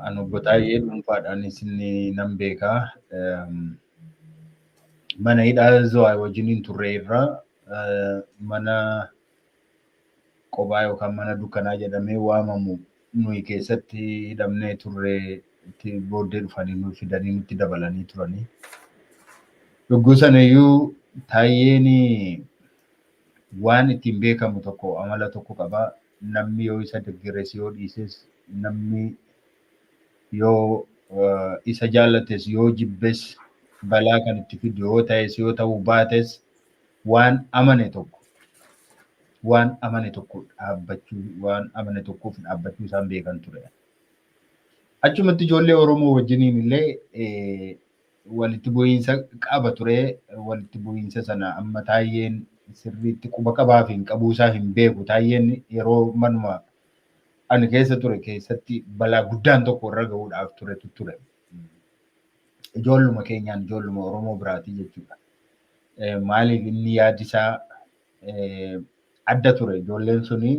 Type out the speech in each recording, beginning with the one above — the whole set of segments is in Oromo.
An obbo Taayyee dhuunfaadhaan isin nan beekaa. Mana hidhaa Zuwaay wajjin hin turre irraa mana qobaa yookaan mana dukkanaa jedhamee waamamu nuyi keessatti hidhamnee turre itti booddee dhufanii nu fidanii nutti dabalanii turanii. Yogguu sanayyuu Taayyeen waan ittiin beekamu tokko amala tokko qaba. namni yoo isa deggeres yoo dhiises namni yoo isa jaallates yoo jibbes balaa kan itti fidu yoo ta'es yoo ta'uu baates waan amane tokko waan amane tokko dhaabbachuu waan amane tokkoof dhaabbachuu isaan beekan ture. Achumatti ijoollee Oromoo wajjiniin illee walitti bu'iinsa qaba ture. Walitti bu'iinsa sana amma Taayyeen sirriitti quba qabaa fi hin qabuu isaa hin beeku. Taayyeen yeroo manuma ani keessa ture keessatti balaa guddaan tokko irra gahuudhaaf turetu ture. Ijoolluma keenyaan ijoolluma Oromoo biraatii jechuudha. Maaliif inni yaadi isaa adda ture. Ijoolleen suni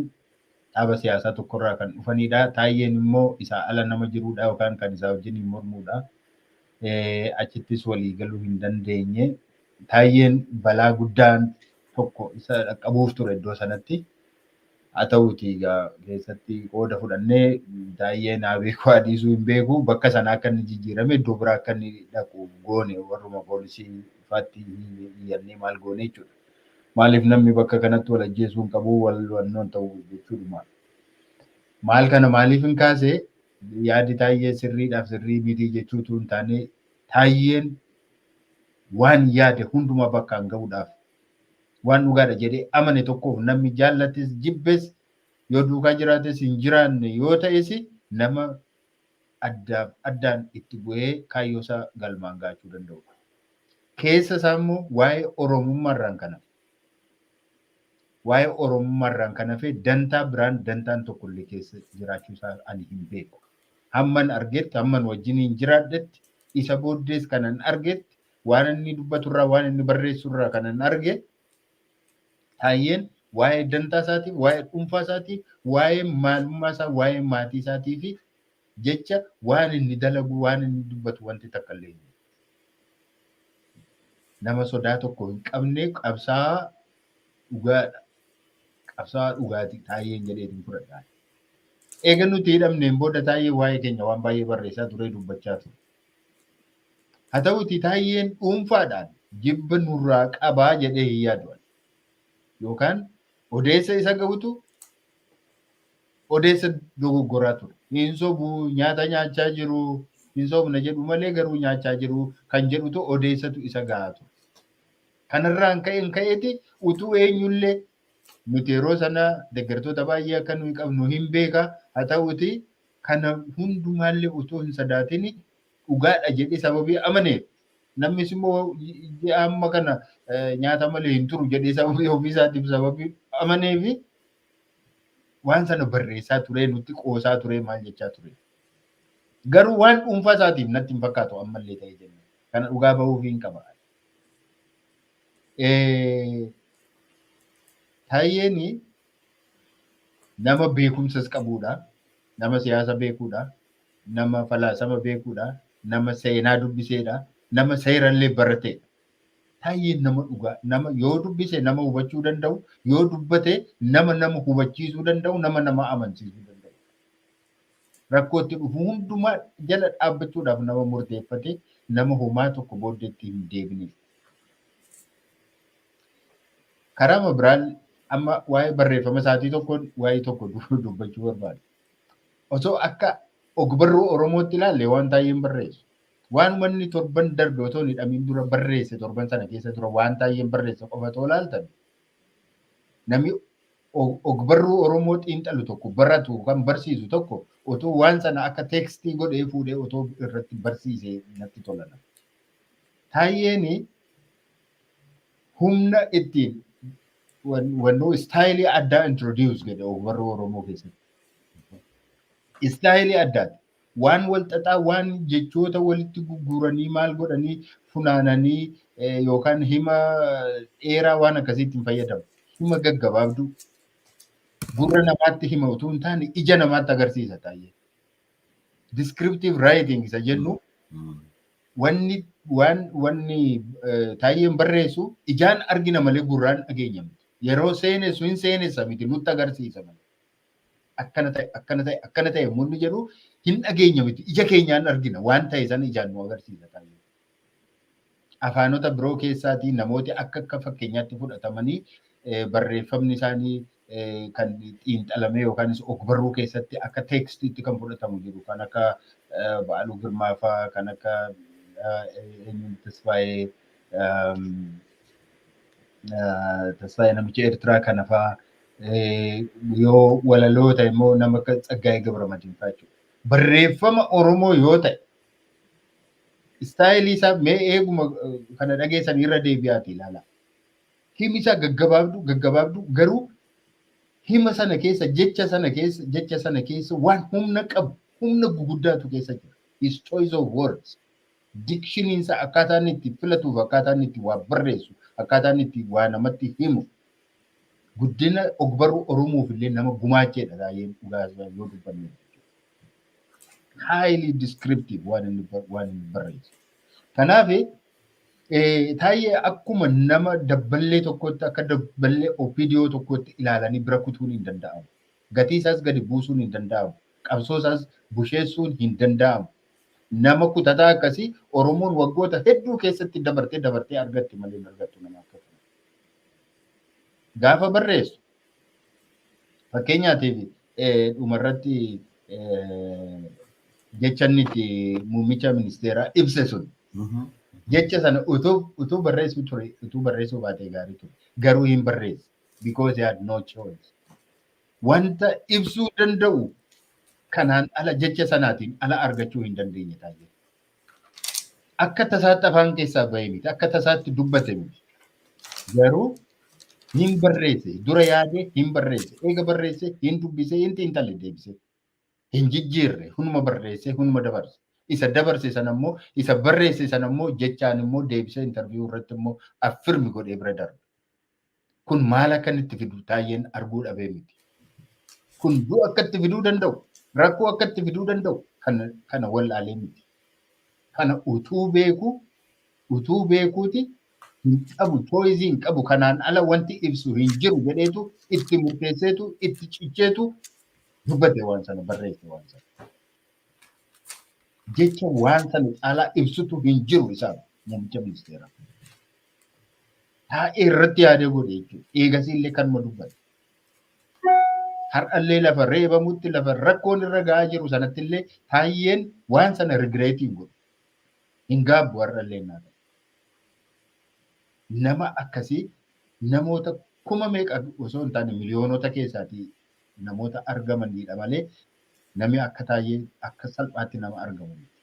dhaaba siyaasaa tokkorraa kan dhufanidha. Taayyeen immoo isaa ala nama jirudha yookaan kan isaa wajjiniin mormudha. Achittis walii galuu hin dandeenye. Taayyeen balaa guddaan tokko isa dhaqqabuuf ture iddoo sanatti. Haa ta'uuti egaa keessatti qooda fudhannee taayyee naa beeku haa dhiisuu hin beeku bakka sanaa akka inni jijjiirame iddoo biraa akka inni dhaqu goone warruma poolisii faatti iyyannee maal goone jechuudha. Maaliif namni bakka kanatti wal ajjeesuu hin qabu wal wannoon ta'u jechuudhuma. Maal kana maaliif hin kaase yaadi taayyee sirriidhaaf sirrii mitii jechuutu hin taane taayyeen waan yaade hundumaa bakkaan ga'uudhaaf waan dhugaadha jedhee amane tokkoof namni jaallates jibbes yoo duukaa jiraates hin jiraanne yoo ta'es nama addaaf addaan itti bu'ee kaayyoosaa galmaan gahachuu danda'udha. Keessa isaa immoo waa'ee Oromummaa irraan kan hafe waa'ee Oromummaa irraan kan hafe dantaa biraan dantaan tokko illee keessa jiraachuu isaa ani hin beeku. Hamman argetti hamman wajjiniin jiraadhetti isa booddees kanan argetti waan inni dubbatu irraa waan inni barreessu irraa kanan arge Taayyeen waa'ee dantaa isaatii, waa'ee dhuunfaa isaatii, waa'ee maalummaa isaa, waa'ee maatii isaatii fi jecha waan inni dalagu, waan inni dubbatu wanti takka illee hin jiru. Nama sodaa tokko hin qabne qabsaa'aa dhugaadha. Qabsaa'aa dhugaati taayyeen jedheetiin fudhadha. Eega nuti hidhamneen booda taayyee waa'ee keenya waan baay'ee barreessaa turee dubbachaa ture. Haa ta'uutii Taayyeen dhuunfaadhaan jibba nurraa qaba jedhee hin yaadu ani. Yookaan odeessa isa gahutu odeessa dogoggoraa ture. Hin sobu, nyaata nyaachaa jiru, hin sobna jedhu malee garuu nyaachaa jiru kan jedhutu odeessatu isa gahaa ture. Kanarraan ka'een ka'eeti utuu eenyullee nuti yeroo sana deeggartoota baay'ee akka nuyi qabnu hin beeka. Haa ta'uutii Kana hundumaallee otoo hin sadaatin dhugaadha jedhee sababii amaneef namnis immoo ji'a amma kana nyaata malee hin turu jedhee sababii ofiisaatiif sababii amaneef waan sana barreessaa turee nutti qoosaa turee maal jechaa ture. Garuu waan dhuunfaa isaatiif natti hin fakkaatu ammallee ta'ee jenna. Kana dhugaa bahuuf hin qaba. Taayeen Nama beekumsas qabuudha. Nama siyaasa beekuudha. Nama falaasama beekuudha. Nama seenaa dubbiseedha. Nama seerallee barateedha. Taayyeen nama dhugaa. Nama yoo dubbise nama hubachuu danda'u. Yoo dubbate nama nama hubachiisuu danda'u. Nama nama amansiisuu danda'u. Rakkootti dhufu hundumaa jala dhaabbachuudhaaf nama murteeffate nama homaa tokko booddeetti hin deebine. Karaama biraan amma waa'ee barreeffama isaatii tokkoon waa'ee tokko du- dubbachuu barbaada. Osoo akka ogbarruu Oromootti ilaalle waan taayeen barreessu. Waan manni torban darbe otoo hin hidhamiin dura barreesse torban sana keessa dura waan taayeen barreesse qofa otoo ilaaltan namni og- ogbarruu Oromoo xiinxalu tokko baratu kan barsiisu tokko otoo waan sana akka teekstii godhee fuudhee otoo irratti barsiisee natti tolana. Taayeen humna ittiin wannoo istaayilii addaa introduce godhe warra Oromoo keessatti. Istaayilii addaati. Waan wal xaxaa waan jechoota walitti gurguranii maal godhanii funaananii yookaan hima dheeraa waan akkasiitti hin fayyadamu. Hima gaggabaabduu gurra namaatti hima utuu hin taane ija namaatti agarsiisa taa'ee. Descriptive writing isa jennu wanni waan wanni taayyeen barreessu ijaan argina malee gurraan dhageenya miti. Yeroo seenessu hin seenessa miti nutti agarsiisa malee. Akkana ta'e akkana ta'e akkana ta'e yommuu inni jedhu hin dhageenya miti ija keenyaan argina waan ta'e sana ijaan nu agarsiisa taayyee. afaanota biroo keessaatii namooti akka akka fakkeenyaatti fudhatamanii barreeffamni isaanii kan xiinxalamee yookaanis ogbarruu keessatti akka teekstiitti kan fudhatamu jiru kan akka Ba'aaluu Girmaafaa kan akka eenyuun Tasfaayee Tasfaayee namicha Eertiraa kanafaa yoo walaloo ta'e immoo nama akka Tsaggaayee Gabramadiinfaa jechuudha. Barreeffama Oromoo yoo ta'e Istaayilii isaa mee eeguma kana dhageessan irra deebi'aati ilaala. Himi isaa gaggabaabdu gaggabaabdu garuu hima sana keessa jecha sana keessa jecha sana keessa waan humna qabu humna guguddaatu keessa jira. His choice of words. Dikshiniin isaa akkaataa inni itti filatuuf akkaataa inni itti waa barreessu akkaataa inni itti waa namatti himu guddina ogbarruu Oromoof illee nama gumaacheedha baay'een dhugaa yoo dubbanne. highly descriptive waan inni bar- waan inni barreesse. Kanaaf eh, taayee akkuma nama dabballee tokkotti akka dabballee opidiyoo tokkotti ilaalanii bira kutuun hin danda'amu. Gatii isaas gadi buusuun hin danda'amu. Qabsoo isaas busheessuun hin danda'amu. Nama kutataa akkasii Oromoon waggoota hedduu keessatti dabartee dabartee argatti malee hin argattu nama akkasii. Gaafa barreessu Fakkeenyaatiif dhumarratti jecha inni itti muummicha ministeeraa ibse sun jecha sana utuu barreessuu ture utuu barreessuu baatee gaarii ture garuu hin barreesse because he had no choice wanta ibsuu danda'u kanaan ala jecha sanaatiin ala argachuu hin dandeenye taa'ee Akka tasaatti afaan keessaa bahee miti. Akka tasaatti dubbate miti. Garuu hin barreesse. Dura yaade hin barreesse. Eega barreesse hin dubbise hin xiinxalle deebise. Hin jijjiirre. Hunuma barreesse hunuma dabarse. Isa dabarse sana immoo isa barreesse sana immoo jechaan immoo deebisee intarviiyuu irratti immoo affirmi godhee bira darbe. Kun maal akka inni itti fidu Taayyeen arguu dhabee miti. Kun du'a akka itti fiduu danda'u, rakkoo akka itti fiduu danda'u kana kana wallaalee miti. Kana utuu beekuu utuu beekuuti hin qabu choice hin qabu kanaan ala wanti ibsu hin jiru jedheetu itti murteesseetu itti cicheetu dubbate waan sana barreesse waan sana. Jecha waan sana caalaa ibsutu hin jiru isaaf muummicha ministeeraa. Taa'ee irratti yaadee godhe jechuudha. Eegasii illee kanuma dubbate. Har'allee lafa reebamutti lafa rakkoon irra ga'aa jiru sanatti illee taayyeen waan sana rigireetii hin godhu. Hin gaabbu har'allee naa ta'e. Nama akkasii namoota kuma meeqa osoo hin taane miliyoonota keessaatii namoota argamaniidha malee namni akka taayyee akka salphaatti nama argamu miti.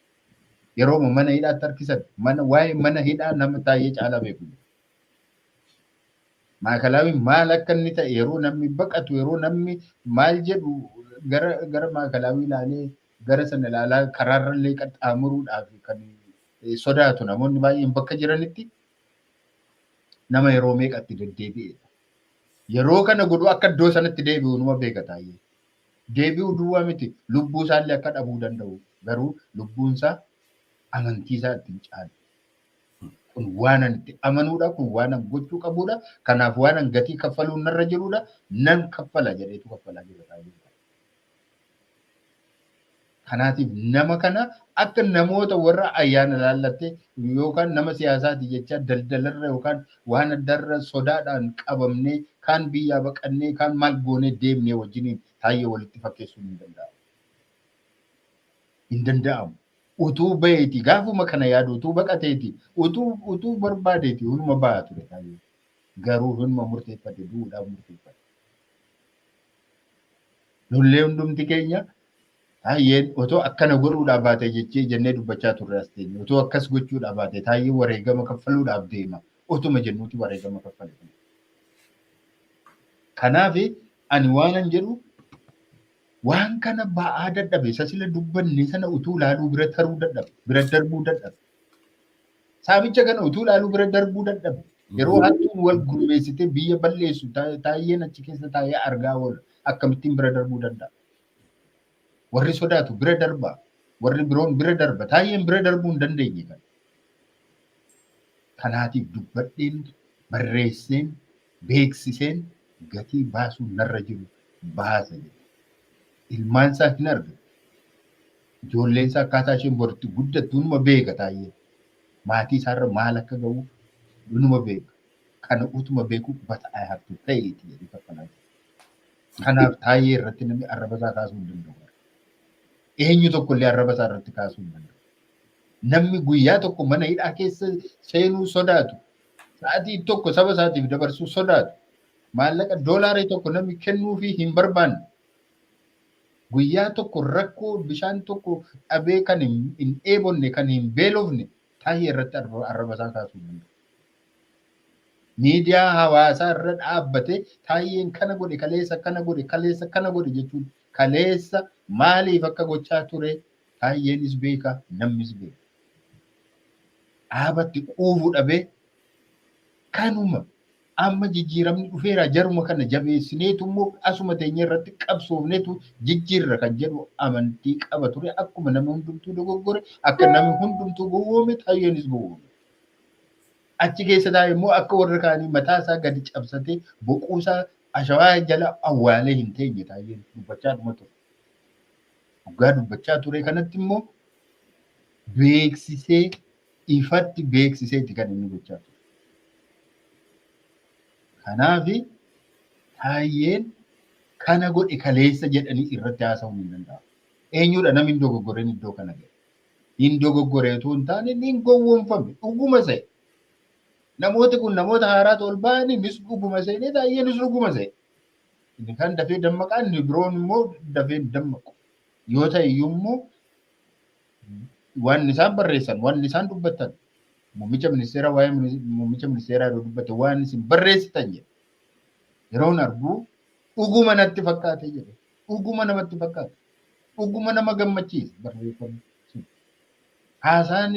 Yerooma mana hidhaatti harkisan mana waa'ee mana hidhaa nama taayyee caalaa beeku jiru. Maakalaawiin maal akka inni ta'e yeroo namni baqatu yeroo namni maal jedhu gara gara maakalaawii ilaalee gara sana ilaalaa karaarra illee qaxxaamuruudhaaf kan eh, sodaatu namoonni baay'een bakka jiranitti nama yeroo meeqatti deddeebi'eedha. Yeroo kana godhu akka iddoo sanatti deebi'u numa beeka taayee. Deebi'u duwwaa miti lubbuu isaallee akka dhabuu danda'u garuu lubbuun isaa amantii isaa ittiin caalu. Kun waanan itti amanuudha kun waanan gochuu qabuudha kanaaf waanan gatii kaffaluun narra jiruudha nan kaffala jedheetu kaffalaa jira taayee. Kanaatiif nama kana akka namoota warra ayyaana laallattee yookaan nama siyaasaati jechaa daldalarra yookaan waan addarra sodaadhaan qabamnee kaan biyyaa baqannee kaan maal goonee deemnee wajjiniin taayyee walitti fakkeessuun hin danda'amu. Hin danda'amu. Utuu baheeti gaafuma kana yaadu utuu baqateeti utuu utuu barbaadeeti hunuma baha ture taayyee. Garuu hunuma murteeffate du'uudhaaf murteeffate. Nullee hundumti keenya taayyeen otoo akkana godhuudhaa baate jechee jennee dubbachaa turre as teenye. Otoo akkas gochuudhaa baate taayyee wareegama kaffaluudhaaf deema. Otuma jennuuti wareegama kaffale. Kanaaf ani waanan jedhu waan kana ba'aa dadhabe isa sila dubbanne sana utuu ilaaluu bira taruu dadhabe bira darbuu dadhabe. Saamicha kana utuu ilaaluu bira darbuu dadhabe. Yeroo hattuun wal gurmeessitee biyya balleessu ta- taayyeen achi keessa taa'ee argaa oola. Akkamittiin bira darbuu danda'a? Warri sodaatu bira darba. Warri biroon bira darba. Taayyeen bira darbuu hin dandeenye kan. Kanaatiif dubbadheen, barreesseen, beeksiseen gatii baasuun narra jiru baasa jedhe. Ilmaan isaa hin argatu. Ijoolleen isaa akkaataa isheen bor itti guddattu inuma beeka Taayyeen. Maatii isaarra maal akka ga'u inuma beeka. Kana utuma beeku but I have to pay it jedhee kaffalaa jira. Kanaaf Taayyee irratti namni arraba isaa kaasuu hin danda'u. Eenyu tokko illee arraba isaa irratti kaasuu hin danda'u. Namni guyyaa tokko mana hidhaa keessa seenuu sodaatu, sa'aatii tokko saba isaatiif dabarsuu sodaatu, maallaqa doolaarii tokko namni kennuufii hin barbaanne Guyyaa tokko rakkoo bishaan tokko dhabee kan hin dheebonne, kan hin beelofne tahi irratti arraba isaa kaasuu hin danda'u. Miidiyaa hawaasaa irra dhaabbatee taayyeen kana godhe kaleessa kana godhe kaleessa kana godhe jechuun kaleessa maaliif akka gochaa ture taayyeenis beeka namnis beeka. Dhaabatti quufuu dhabee kanuma Amma jijjiiramni dhufeera jaruma kana jabeessineetu immoo asuma teenye irratti qabsoofneetu jijjiirra kan jedhu amantii qaba ture akkuma nama hundumtuu dogoggore akka nama hundumtuu gowwoome taayyeenis gowwoome. Achi keessa taa'e immoo akka warra kaanii mataa isaa gadi cabsatee boquu isaa ashawaa jala awwaalee hin teenye taayyeen dubbachaa dhuma ture. Dhugaa dubbachaa ture kanatti immoo beeksisee ifatti beeksiseeti kan inni gochaa ture. Kanaaf taayyeen kana godhe kaleessa jedhanii irratti haasa'uun hin danda'amu. Eenyudha namni dogoggoreen iddoo kana ga'e? Hin dogoggoree utuu hin taane inni hin gowwoomfame dhuguma se'e. Namooti kun namoota haaraatu ol ba'anii innis dhuguma seenee taayyeenis dhuguma se'e. Inni kan dafee dammaqaa inni biroon immoo dafee dammaqu. Yoo ta'e iyyuu immoo waan isaan barreessan, waan isaan dubbatan, muummicha ministeeraa waa'ee minis- muummicha ministeeraa yeroo dubbate waan isin barreessitan jedhe. Yeroon arguu dhuguma natti fakkaate jedhe. Dhuguma namatti fakkaate. Dhuguma nama gammachiisa barreeffamni sun. Haasaan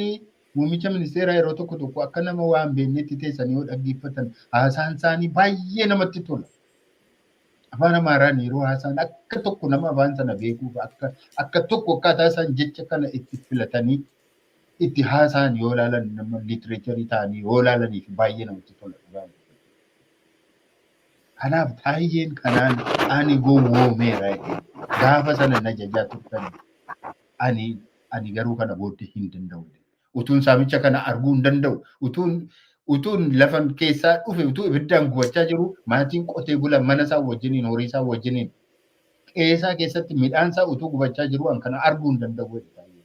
muummicha ministeeraa yeroo tokko tokko akka nama waan beeknetti teessanii yoo dhaggeeffatan haasaan isaanii baay'ee namatti tola. Afaan Amaaraan yeroo haasaan akka tokko nama afaan sana beekuuf akka akka tokko akkaataa isaan jecha kana itti filatanii itti haasaan yoo ilaalan nama liitireecharii ta'anii yoo ilaalaniif baay'ee namatti tola dhugaa. Kanaaf taayyeen kanaan ani gowwoomeera jedhee gaafa sana na jajaa turtan ani ani garuu kana booddee hin danda'u jedhe. Utuun saamicha kana arguu hin danda'u. Utuun utuun lafan keessaa dhufe utuu ibiddaan gubachaa jiru maatiin qotee bula mana isaa wajjiniin horii isaa wajjiniin qe'ee isaa keessatti midhaan isaa utuu gubachaa jiru an kana arguu hin danda'u jedhe taa'ee.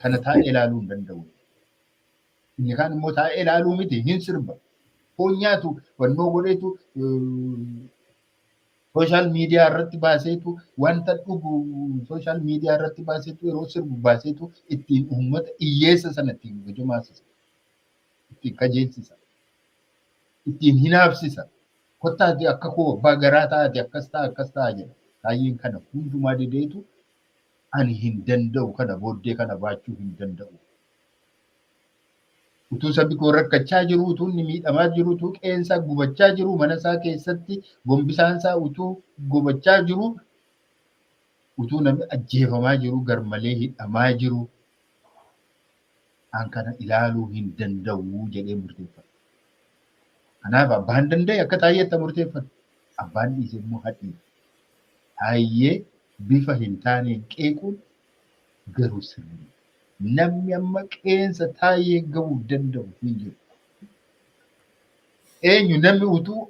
Kana taa'ee ilaaluu hin danda'u. Inni kaan immoo taa'ee ilaaluu miti hin sirba. Foon nyaatu fannoo godheetu Sooshaal miidiyaa irratti baaseetu wanta dhugu sooshaal miidiyaa irratti baaseetu yeroo sirbu baaseetu ittiin uummata hiyyeessa sana ittiin gojomaasisa. Ittiin kajeelchisa. Ittiin hinaafsisa. Kottaati akka koo abbaa garaa ta'aati akkas ta'a akkas ta'a jedha. Taayyeen kana hundumaa dideetu ani hin danda'u kana booddee kana baachuu hin danda'u. Utuu sabbi koo rakkachaa jiruu, utuu inni miidhamaa jiruu, utuu qe'een isaa gubachaa jiruu, mana isaa keessatti gombisaan isaa utuu gubachaa jiruu, utuu namni ajjeefamaa jiruu, garmalee hidhamaa jiruu, an kana ilaaluu hin danda'u jedhee murteeffata. Kanaaf abbaan danda'e akka taayyee itti murteeffata. Abbaan dhiise immoo hadhiisa. Taayyee bifa hin taaneen qeequun garuu sirrii miti. Namni amma qeensa Taayyeen gahuuf danda'u hin jiru. Eenyu namni utuu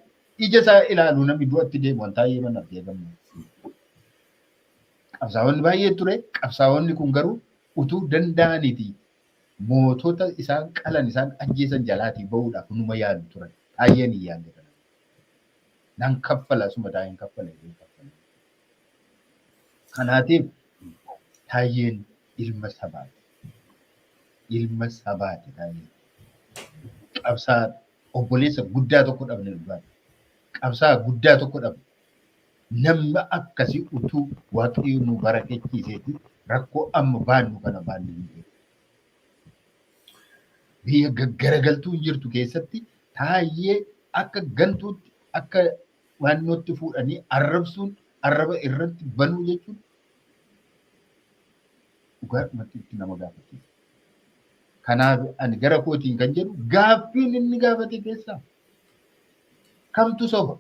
ija isaa ilaalu namni du'atti deemu an Taayyee mana argee gammadu. Qabsaa'onni baay'ee ture. Qabsaa'onni kun garuu utuu danda'aniiti mootota isaan qalan isaan ajjeesan jalaatii ba'uudhaaf numa yaalu turan. Taayyeen hin yaalle kana. Nan kaffala asuma Taayyeen kaffale. Kanaatiif Taayyeen ilma sabaati. Ilma sabaati Taayyeen. Qabsaa obboleessa guddaa tokko dhabne dhugaadha. Qabsaa guddaa tokko dhabne. Namni akkasii utuu waaqayyo nu barakechiiseeti rakkoo amma baannu kana baannu hin jiru. Biyya gaggaragaltuu hin jirtu keessatti taayyee akka gantuutti akka naannootti fuudhanii arrabsuun arraba irratti banuu jechuun dhugaadhumatti itti nama gaafachiisa. Kanaaf ani gara kootiin kan jedhu gaaffiin inni gaafate keessaa kamtu soba?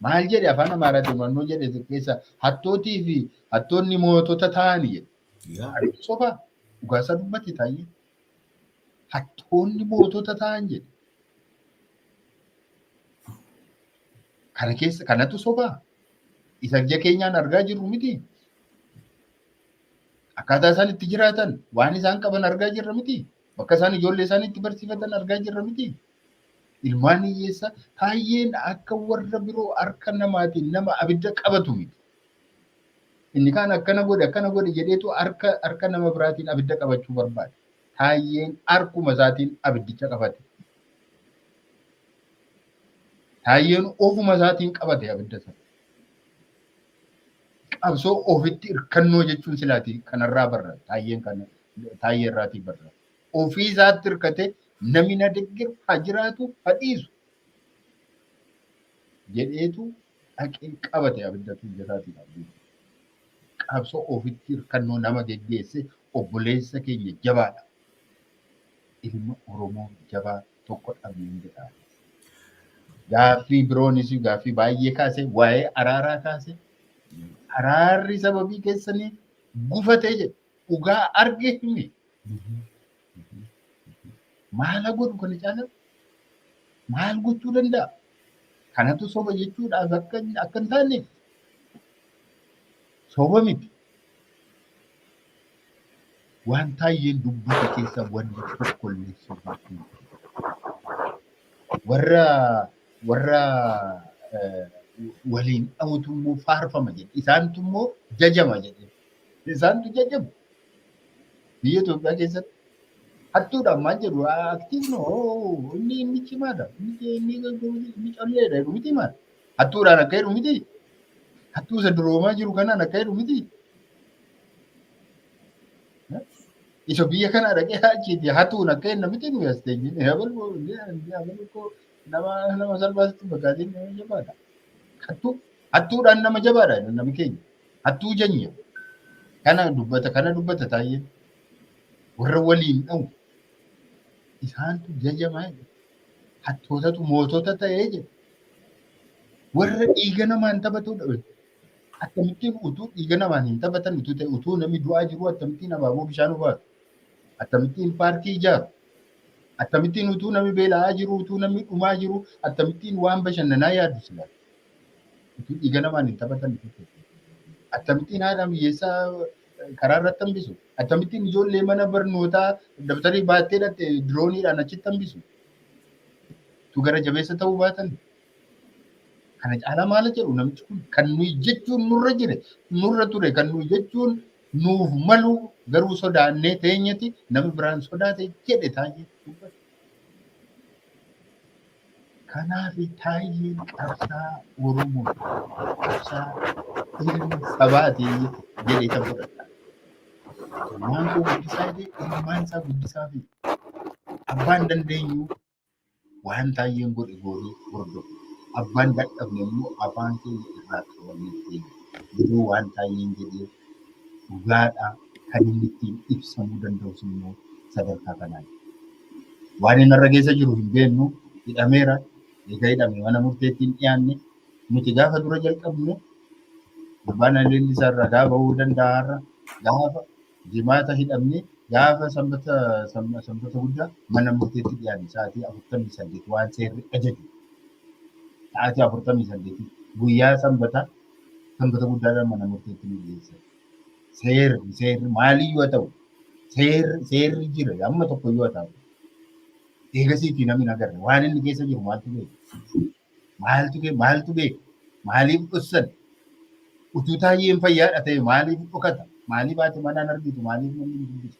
Maal jedhe afaan Amaaraatiin mannoo jedhe keessa hattootii fi hattoonni mootota ta'ani jedhe. Yaa. Ariin sobaa dhugaasaa dubbate taa'ee. Hattoonni mootota ta'an jedhe. Kana keessa kanatu sobaa? Isa ija keenyaan argaa jirru miti. Akkaataa isaan itti jiraatan waan isaan qaban argaa jirra miti. Bakka isaan ijoollee isaanii itti barsiifatan argaa jirra miti. Ilmaan hiyyeessa baay'een akka warra biroo harka namaatiin nama abidda qabatu miti. Inni kaan akkana godhi akkana godhi jedheetu harka harka nama biraatiin abidda qabachuu barbaade. Taayyeen harkuma isaatiin abiddicha qabate. Taayyeen ofuma isaatiin qabate abidda sana. Qabsoo ofitti hirkannoo jechuun silaati kanarraa barra taayyeen kana taayyee irraatii barra. Ofii isaatti hirkate namni na deggeru haa jiraatu haa dhiisu jedheetu dhaqee qabate abiddatu ija isaatii qabdee qabsoo ofitti hirkannoo nama geggeesse obboleessa keenya jabaadha. Ilma Oromoo jabaa tokko dhabneen jedha. Gaaffii biroonis gaaffii baay'ee kaase waa'ee araaraa kaase araarri sababii keessaniif gufatee jedhe dhugaa arge hime Maala godhu kana caala maal gochuu danda'a? Kanatu soba jechuudha akka akka hin taane soba miti. Waan taayyeen dubbate keessa wanti tokko illee soba miti. Warra warra eh, waliin dha'utu immoo faarfama jedhe. Isaantu immoo jajama jedhe. Isaantu jajjabu. Biyya Itoophiyaa keessatti hattuudha ammaan jedhu aktiivno inni inni cimaadha. Inni inni calleedha jedhu miti maal. Hattuudhaan akka jedhu miti. Hattuu isa duroomaa jiru kanaan akka jedhu miti. Isa biyya kanaa dhaqee achiiti hatuun akka jenna miti nuyi as teenyee nama nama salphaatti fakkaatiin nama jabaadha. Hattuu hattuudhaan nama jabaadha namni keenya. Hattuu janya. Kana dubbata kana dubbata taayeen. Warra waliin dha'u. Isaantu jajamaa jedhe. Hattootatu mootota ta'ee jedhe. Warra dhiiga namaan taphatudha. jedhe. Akkamittiin utuu dhiiga namaan hin taphatan utuu ta'e utuu namni du'aa jiruu akkamittiin abaaboo bishaan obaatu. Akkamittiin paarkii ijaaru. Akkamittiin utuu namni beela'aa jiru utuu namni dhumaa jiru akkamittiin waan bashannanaa yaadu silaa. Utuu dhiiga namaan hin taphatan akkamittiin haadha hiyyeessaa karaa irratti hambisu? Akkamittiin ijoollee mana barnootaa dabtarii baattee dhatte dirooniidhaan achitti hambisu? Utuu gara jabeessa ta'uu baatan kana caalaa maala jedhu namichi kun kan nuyi jechuun nurra jire nurra ture kan nuyi jechuun nuuf malu garuu sodaannee teenyeti nama biraan sodaate jedhe taa'ee dubbata. Kanaafi Taayyeen qabsaa'aa Oromooti, qabsaa'aa ilma sabaati jedheetan fudhadha. Ilmaan koo guddisaa jedhee ilmaan isaa guddisaafi. Abbaan dandeenyu waan Taayyeen godhe goonee hordofna. Abbaan dadhabne immoo afaan keenya irraa qabannee teenya. Garuu waan Taayyeen jedhe dhugaadha. Kan inni ittiin ibsamuu danda'us immoo sadarkaa kanaani. Waan inni irra geessa jiru hin beeknu hidhameera. Eega hidhame mana murteetti hin dhiyaanne. Nuti gaafa dura jalqabne gurbaan haleelli isaa ragaa bahuu danda'a har'a. Gaafa jimaata hidhamne gaafa sanbata sanba- sanbata guddaa mana murteetti dhiyaanne sa'aatii afurtamii saddeet waan seerri ajaju. Sa'aatii afurtamii saddeetii guyyaa sanbata sanbata guddaadhaan mana murteetti nu dhiyeessan. Seerri seerri maalii yoo ta'u seerri seerri jira amma tokko yoo ta'u eegasiitii namni nagarre waan inni keessa jiru maaltu beeku maaltu kee maaltu beeku maaliif dhossan utuu taayyeen fayyaadha ta'e maaliif dhokata maaliif haati manaan argitu maaliif namni hin dubbisu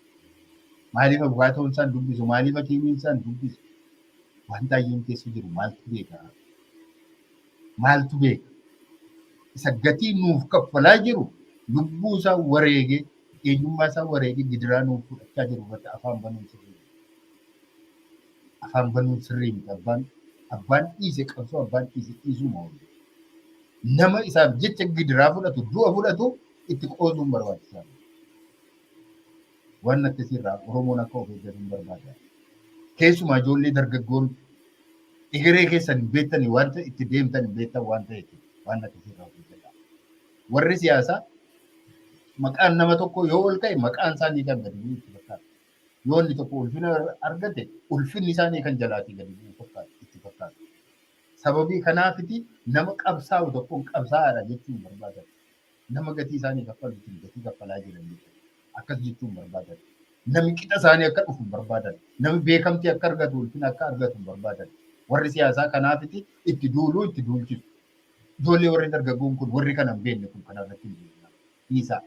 maaliif abukaatoon isaan dubbisu maaliif hakiimiin isaan dubbisu waan taayyeen keessa jiru maaltu beekaa maaltu beeka? Isa gatii nuuf kaffalaa jiru, lubbuu isaa wareegee, eenyummaa isaa wareegee gidiraa nuuf fudhachaa jiru irratti afaan banuun sirrii miti. Afaan banuun sirrii miti. Abbaan abbaan dhiise qabsoo abbaan dhiise dhiisuu moo nama isaaf jecha gidiraa fudhatu du'a fudhatu itti qoosuun barbaachisaa miti. Waan akkasii irraa Oromoon akka of eeggatun barbaada. Keessumaa ijoollee dargaggoon egeree keessan hin beektanii waan ta'e itti deemtan hin beektan waan ta'eef waan akkasii irraa of eeggadha. Warri siyaasaa maqaan nama tokko yoo ol ka'e maqaan isaanii kan gadi bu'u itti fakkaata. Yoo inni tokko ulfina argate ulfinni isaanii kan jalaatii gadi bu'u fakkaata itti fakkaata. Sababii kanaafiti nama qabsaa'u tokkoon qabsaa'aadha jechuun barbaada. Nama gatii isaanii kaffaluutiin gatii kaffalaa jiran jechuudha. Akkas jechuun barbaadan. Nami qixa isaanii akka dhufu hin barbaadan. Nami beekamtii akka argatu, ulfina akka argatu hin barbaadan. Warri siyaasaa kanaafiti itti duuluu, itti duulchisu. Ijoollee warri dargaggoon kun, warri kana hin beekne kun kana irratti hin duulina. Dhiisaa.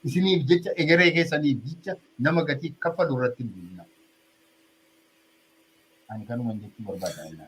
Isiniif jecha, egeree keessaniif jecha nama gatii kaffalu irratti hin duulina. Ani kanuman jechuu barbaada.